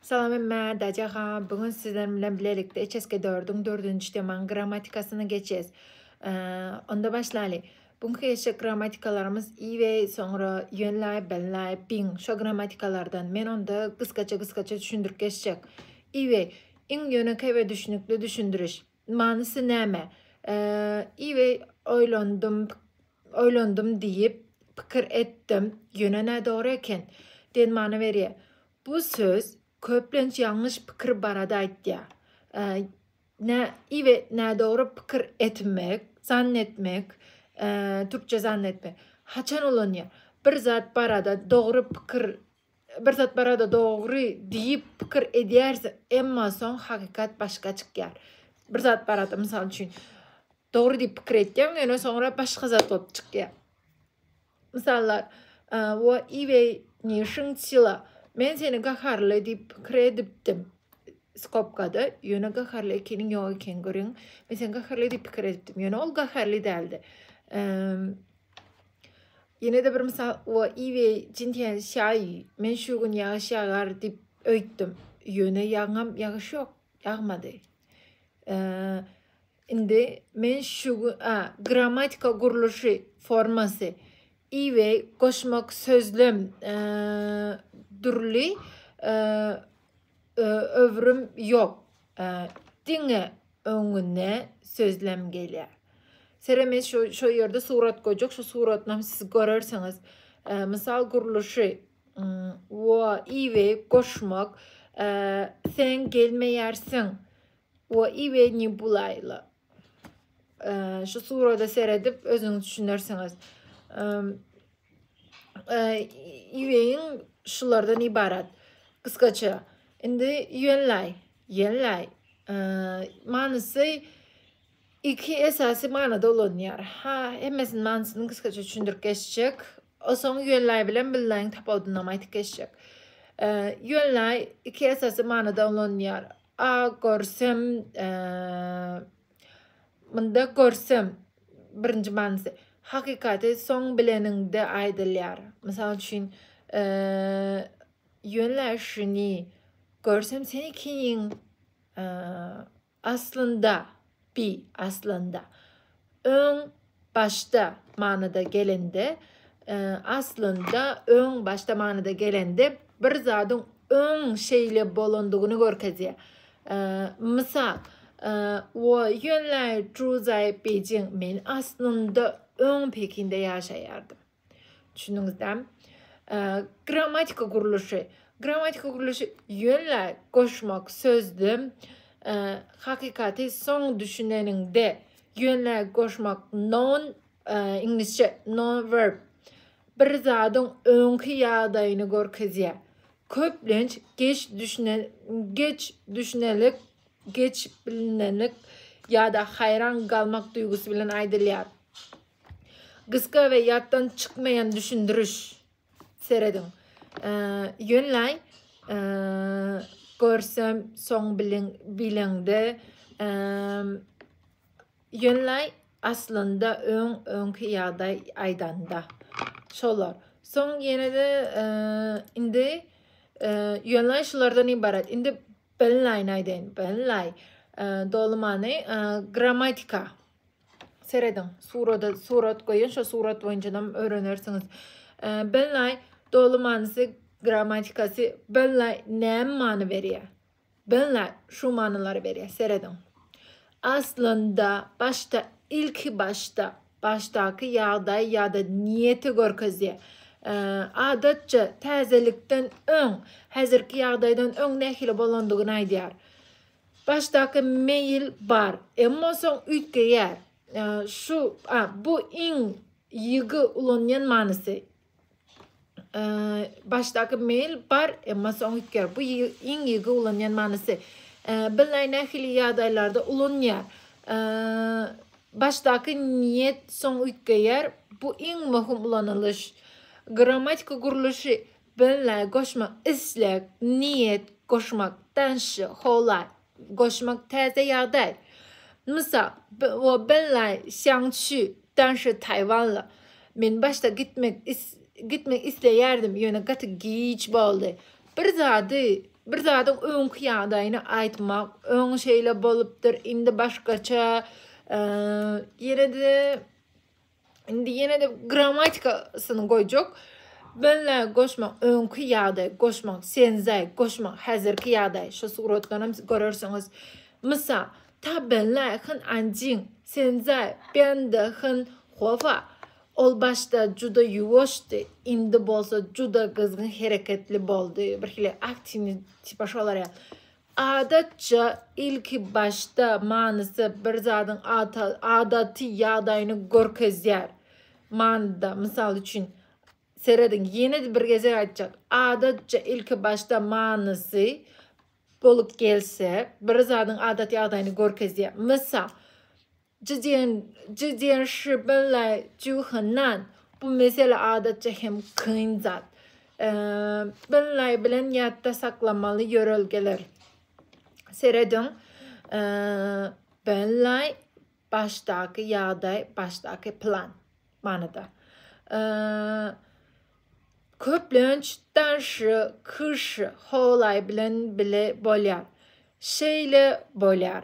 Salam Emme Dajaga bu gün sizleriň bilen bilelikde HSK 4-iň 4-nji temaň grammatikasyny geçes. Onda başlaly. Bu gün HSK grammatikalarymyz i we soňra ýönläp, benläp, biň şo grammatikalardan. Men onda gysgaça gysgaça düşündirip geçjek. I we iň ýönekeý we düşünikli düşündiriş. Manysy näme? Iwi oýlandym, oýlandym diýip, pikir etdim, ýöne nädogry eken. Diýen many berýär. Bu söz köplenç ýalňyş pikir barada aýtýar. Nä iwi nädogry pikir etmek, zann etmek, türkçe zann etmek. Haçan ulanýar? Bir zat barada dogry pikir Bir zat barada dogry diýip pikir edýäris, emma soň hakykat başga çykýar. Bir zat barada, mysal üçin, dogry diýip pikir etýäň, ýöne soňra başga zat bolup çykýar. Mysallar, Wo iwei ni şyň çila, men seni gaharly diýip pikir edipdim, skobkada, ýöne gaharly ekeniň ýok ekeni, görýäňmi? Men seni gaharly diýip pikir edipdim, ýöne ol gaharly däldi. Ýene-de bir mysal, o iwe jintiýen şaý, men şu gün ýagyş ýagar diýip öýtdüm. Ýöne ýaňam ýagyş ýok, ýagmady. Indi men şu gün, a, grammatika gurluşy formasy iwe goşmak sözlem dürli Öwrüm ýok. Diňe öňüne sözlem gelýär. Sereme şu şu ýerde surat goýjak. Şu suratyny hem siz görersiňiz. Mysal gurluşy we iwe goşmak sen gelmeýärsiň we iwe ni bulaýla. Şu surada seredip özüňiz düşünersiňiz. Iweýiň şulardan ibarat. Gysgaça. Indi ýönläý, ýönläý. Manysy iki esasy manyda ulanýar. Ha, hemmesiniň manysyny gysgaça düşündirip geçjek. Osoň ýönläý bilen billäň tapawudyny aýdyp geçjek. Ýönläý iki esasy manyda ulanýar. A görsem, munda görsem, birinji manysy, hakykaty soň bileniňde aýdylýar. Mysal üçin, ýöne şuny görsem seni kiýiň aslynda Bi, aslynda. Öň, başda manyda gelende, aslynda, öň, başda manyda gelende bir zadyň öň şeýle bolandygyny görkezýär. Mysal, Wo ýuanlai zhuo zai Beijing, Men, aslynda, öň Pekinde ýaşaýardym. Düşündiňizdämi? Grammatika gurluşy. Grammatika gurluşy ýöne goşmak sözde hakykaty soň düşüneniňde ýöne goşmak non iňlisçe non verb bir zadyň öňki ýagdaýyny görkezýär. Köplenç geç düşünen geç düşünelik, geç bilinenlik ýa-da haýran galmak duýgusy bilen aýdylýar. Gysga we ýatdan çykmaýan düşündiriş. Serediň. Ýöneläý. Görsem soň bilen bileňde. Ýöneläý aslynda öň öňki ýagdaý aýdanda. Şolar. Soň ýene-de indi ýöneläý şulardan ibarat. Indi bilinläýini aýdaýyn. Bilinläý. Doly many grammatika. Serediň surada surat goýan şo surat boýunçanam öwrenersiňiz. Belnay doly manysy grammatikasy belnay näme many berýär? Belnay şu manylary berýär. Serediň. Aslynda başda ilki başda başdaky ýagdaý ýa-da niýeti görkezýär. Adatça täzelikden öň, häzirki ýagdaýdan öň nähili bolandygyny aýdýar. Başdaky meýil bar, emma soň üýtgeýär. Şu, a, bu iň ýygy ulanýan manysy. Başdaky meýil bar, emma soň üýtgeýär. Bu iň ýygy ulanýan manysy. Bilnaý nähili ýagdaýlarda ulanýar. Başdaky niýet soň üýtgeýär. Bu iň möhüm ulanylyş. Grammatika gurluşy Böle, goşmak, isleg, niýet, goşmak, danşy, howa, goşmak, täze ýagdaý. Mysal, Wo benlai xiangqu, danşy taýwanly. Men başda gitmek gitmek isleýärdim, ýöne gaty giç boldy. Bir zady, bir zadyň öňki ýagdaýyny aýtmak, öň şeýle bolupdyr, indi başgaça, ýene-de. Indi ýene-de grammatikasyny goýjak. Benle goşmak öňki ýagdaý, goşmak senzaý, goşmak häzirki ýagdaý. Şu suratdan hem görersiňiz. Mysal, ta benle hen anjin, senzaý, bende hen howa. Ol başda juda ýuwaşdy, indi bolsa juda gyzgyn hereketli boldy. Birhili aktiwni tipa şolar ýa. Adatça, ilkibaşda manysy bir zadyň adaty ýagdaýyny görkezýär manyda. Mysal üçin, serediň, ýene-de bir gezek aýtjak, adatça ilkibaşda manysy bolup gelse, bir zadyň adaty ýagdaýyny görkezýär. Mysal, Zhi Jian, Zhi Jian Shi Bin Lai, Zhu Henan, bu mesele adatça hem kyn zat. Bin Lai bilen ýatda saklamaly ýörelgeler. Serediň, Bin Lai, başdaky ýagdaý, başdaky plan manyda. Köplenç Dan Shi, Kü Shi, Hou Lai bilen bile bolýar. Şeýle bolýar.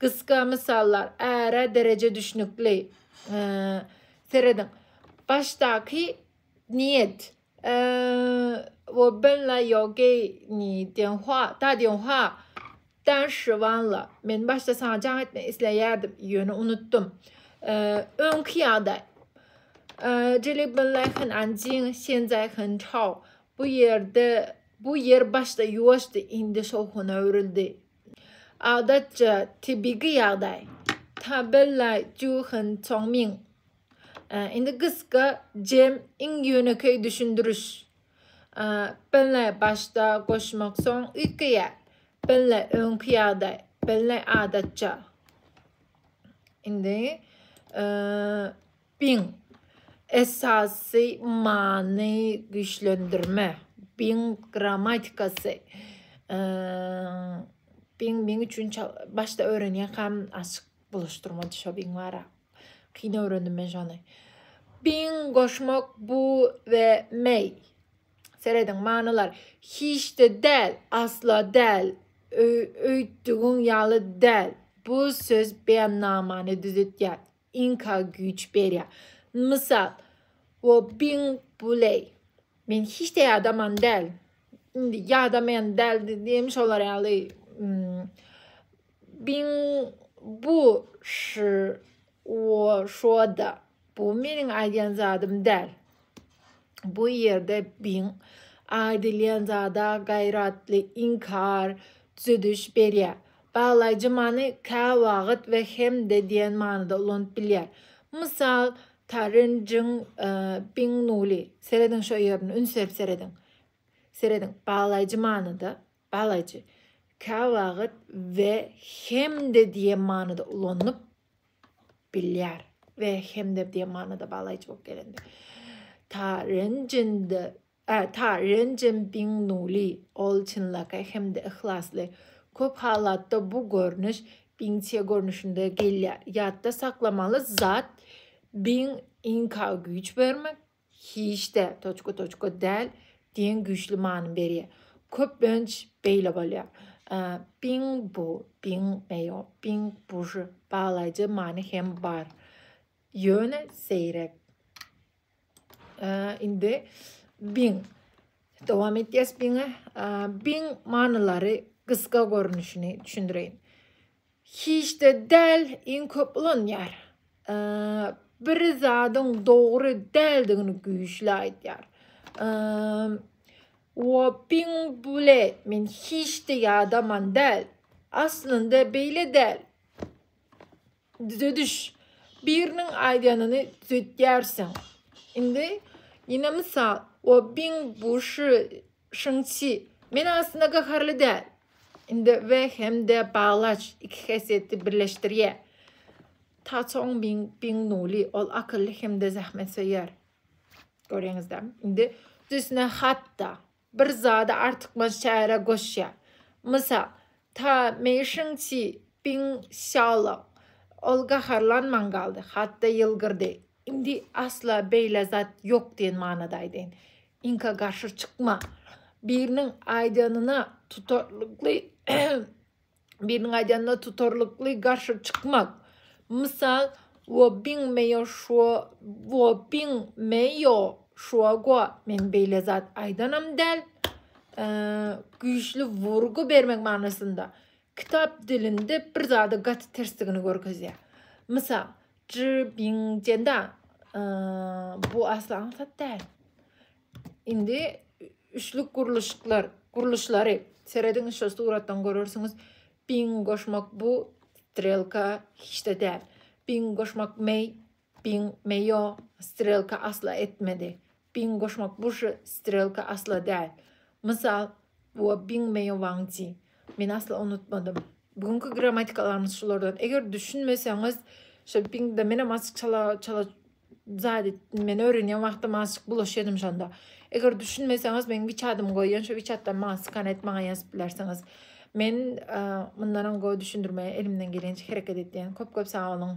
Gysga mysallar äre dereje düşnükli. Serediň. Başdaky niýet. Wo bin la yo ge ni diýen hua, da diýen hua. Dan shi wan la. Men başda saňa jaň etmek isleýärdim, ýöne unutdym. Öňki ýagdaý. Jili bin la hen an jin, sen zai hen çao. Bu ýerde, bu ýer başda ýuwaşdy, indi şowhuna öwrüldi. Adatça tebigy ýagdaý. Tabella Juhan Tongming. Indi gysga jem iň ýönekeý düşündiriş. Belle başda goşmak soň üýtgeýär. Belle öňki ýagdaý. Belle adatça. Indi Biň, esasy many güýçlendirme. Biň grammatikasy. Biň meň üçin başda öwrenýänkam açyk bulaşdyrmady şo biň bara. Kyn öwrendim men şony. Biň goşmak bu we meý. Serediň manylar. Hiç-de däl, asla däl, öýtdügiň ýaly däl. Bu söz beýannamany düzetýär. Inka güýç berýär. Mysal, Wo bin buley. Men hiç de ýadaman däl. Indi ýadamaýan däl diýim şolar ýaly. Hmm, bin bu şu wo şoda. Bu meniň aýdýan zadym däl. Bu ýerde biň aýdylýan zada gaýratly inkar, düzediş berýär. Baglaýjy many käwagt we hem-de diýen manyda ulanyp bilýär. Mysal, Tarin jyň biň nuly. Serediň şo ýerine, üns berip serediň. Serediň, baglaýjy manyda, baglaýjy, käwagt we hem-de diýen manyda ulanyp Bilýär we hem-de diýen manyda baglaýjy bolup gelindi. Ta renjindi, ä, ta renjinbiňnuly, ol çynlakaý hem-de yhlasly. Köp halatda bu görnüş biňçe görnüşinde gelýär. Ýatda saklamaly zat biň inka güýç bermek, Hiç-de, toçka-toçka däl, diýen güýçli many berýär. Köplenç beýle bolýar. Biň bu, biň meýo, biň buşy baglaýjy many hem bar. Ýöne seýrek. Indi biň. Dowam edýäs biňe. Biň manylary gysga görnüşini düşündireýin. Hiçde däl iň köp ulanýar. Bir zadyň dogry däldigini güýçli aýdýar. Whopping bule men hiçde ýadaman däl. Aslynda beýle däl. Düzediş. Biriniň aýdanyny düzetýärsiň. Indi ýene mysal. Whopping bu şu Şunsi, Men aslynda gaharly däl. Indi we hem-de baglaç iki häsiýeti birleşdirýär. Ta Çong Bing Bing Nuli, ol akylly hem-de zähmetsöýer. Görýäňizdämi? Indi düsüne hat-da, bir zady artykmaç çäre goşýar. Mysal, Ta Mei Şunsi Bing Sýaolong, ol gaharlanman galdy, hat-da ýylgyrdy. Indi asla beýle zat ýok diýen manyda aýdaýyn. Inka garşy çykma. Biriniň aýdanyna tutarlykly biriniň aýdanyna tutarlykly garşy çykmak. Mysal, wo bin meýo şuo wo bin meýo şuo go. Men beýle zat aýdanam däl. Güýçli wurgy bermek manysynda. Kitap dilinde bir zada gaty tersdigini görkezýär. Mysal, Zhi Bing Jenda bu asly aňsat däl. Indi üçlük gurluşyklar, gurluşlary serediň şo suratdan görersiňiz. Bing goşmak bu strelka hiç-de däl. Bing goşmak mei Biň, me ýo, strelka asla etmedi. Biň goşmak bu ş, strelka asla däl. Mysal, Wo biň me ýo wang ji. Men asla unutmadym. Bu günki grammatikalarymyz şulardan. Eger düşünmeseňiz, şo biň de menem azjyk çala çala zat etdim. Men öwrenýän wagtym azjyk bulaşýadym şonda. Eger düşünmeseňiz, meň wiçadymy goýan, şo wiçatdan maňa skan et, maňa ýazyp bilersiňiz. Men mundan öň go düşündirmegi elimden gelýänçe hereket etýän. Köp köp sag boluň.